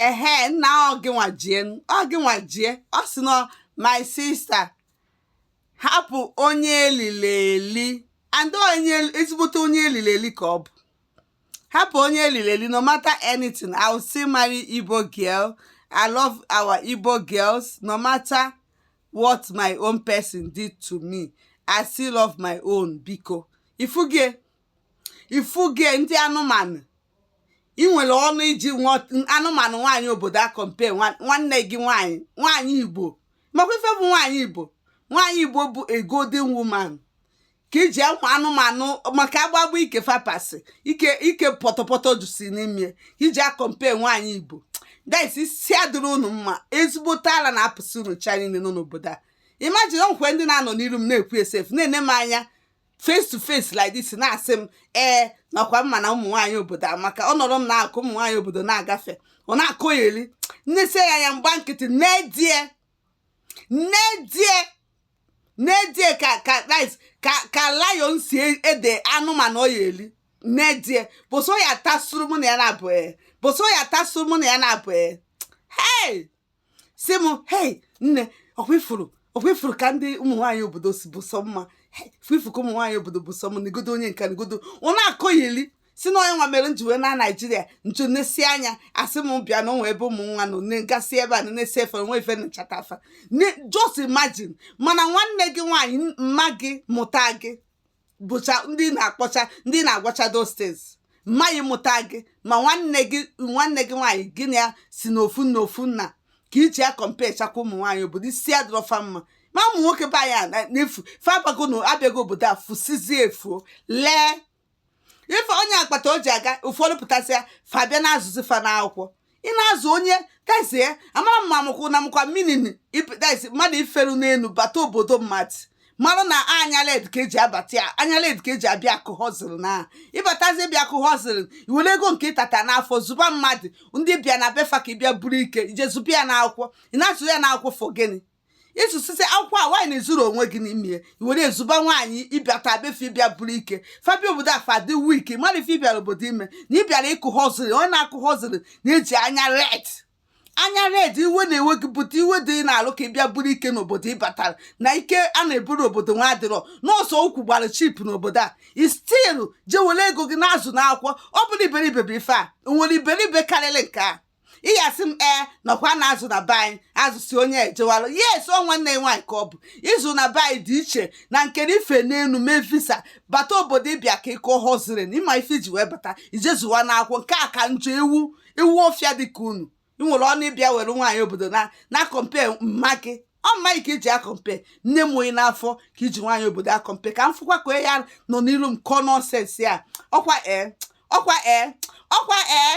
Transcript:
ehe nna ọ gịnwa jie ọ gịnwa jie ọ sị na my sister hapụ onye elili eli and onye ezigbote onye elili eli ka ọ bụ hapụ onye elili eli no matter anything i will still marry igbo girl i love our igbo girls no matter what my own person did to me i still love my own biko ifuge ifuge ndị anụmanụ ị nwere ọnụ iji anụmanụ nwaanyị obodo a compare nwanne gị nwaanyị nwaanyị igbo makwa ife bụ nwaanyị igbo nwaanyị igbo bụ a golden woman ka iji ụmụ anụmanụ maka agbagba ike fapasị ike ike pọtọpọtọ si n'ime iji a-compare nwaanyị igbo that is isi adịrọ unu mma ezigbote ala na-apụsị unu cha niile nọ n'obodo a imagine kwa ndị na-anọ n'iru m na-ekwu esefu na-ene m anya face to face like this na-asị m ee nna ọkwa ị ma na ụmụ nwaanyị obodo amaka ọ nọrọ m na-akụ ụmụ nwaanyị obodo na-agafe ọ na-akọyeri m nesie ya anya m gba nkịtị nedie nedie nedie ka ka rice ka ka lion si enede anụmanụ ọ ya-eri nedie boso ya tasuru mụ na ya na-abụ ee boso ya tasuru mụ na ya na-abụ ee hey sị m hei nne ọkwa ị fụrụ ọkwa ị fụrụ ka ndị ụmụ nwaanyị obodo si bụ sọ mma ị fụ ka ụmụ nwaanyị obodo bụ sọ mma negodo onye nke a negodo ọ na-akọgheli sị na onye nwa mere nji wee na naijiria nju nesie anya asị m bịa na o nwe ebe ụmụ nwa nọ na-egasị ebe a na-esi efe nwe efe nchata afa just imagine mana nwanne gị nwaanyị mma gị mụta gị bụcha ndị na-akpọcha ndị na-agwacha those things mma gị mụta gị ma nwanne gị nwanne gị nwaanyị gị na ya si n'ofu n'ofu nna ka ị ji ya comparechakwa ụmụ nwaanyị obodo isi adịrọ fa mma ma ụmụ nwoke be anyị a na- na-efu fa bago na abịago obodo a fusizie efuo lee ife onye akpata o ji aga ụfọdụ pụtasịa fa bịa na-azụzi fa n'akwụkwọ ị na-azụ onye that is ya amarọ m ma mụkwụ na-emekwa meaning that is mmadụ i feru n'elu bata obodo mmadụ mara na anya red ka e ji abata ya anya red ka e ji abịa akụ hustle na ị batazie bịa akụ hustle i were ego nke ị tata n'afụfụ zụba mmadụ ndị bịa na be fa ka ị bịa buru ike i je zụba ya n'akwụkwọ ị na-azụ ya n'akwụkwọ for gịnị ị zụsịsị akwụkwọ a nwaanyị na-ezuru onwe gị n'ime ya i were azụba nwaanyị ị bịata be fa ị bịa buru ike fa bịa obodo a fa dị wiki mara ife ị bịara obodo ime na ị bịara ịkụ hustle onye na-akụ hustle na-eji anya red anya red iwe na-ewe gị pụta iwe dị n'alụ ka ị bịa buru ike n'obodo ị batara na ike a na-eburu obodo nwa adịrọ n'ọsọ ukwu gbara cheap n'obodo a ị still je were ego gị na-azụ n'akwụkwọ ọ bụrọ iberibe bụ ife a o nwere iberibe karịrị nke a ị ya-asị m ee na ọkwa na-azụ na be anyị azụsị onye ejewalụ yes ọ nwanne ya nwaanyị ka ọ bụ ịzụ na be anyị dị iche na nke na ife n'elu mee visa bata obodo ịbịa ka ịkọ ọhụụ ziri na ịma ife iji wee bata ijezuwa n'akwụkwọ nke a ka njọ ewu ọfịa dị ka unu ị nwere ọnụ ịbịa were nwaanyị obodo na-acompare mma gị ọ mma gị ka iji acompare nne mụ ị n'afọ ka iji nwaanyị obodo acompare ka m fụkwa ka ya nọ n'iru m kọọ nonsense a ọkwa ee ọkwa ee ọkwa ee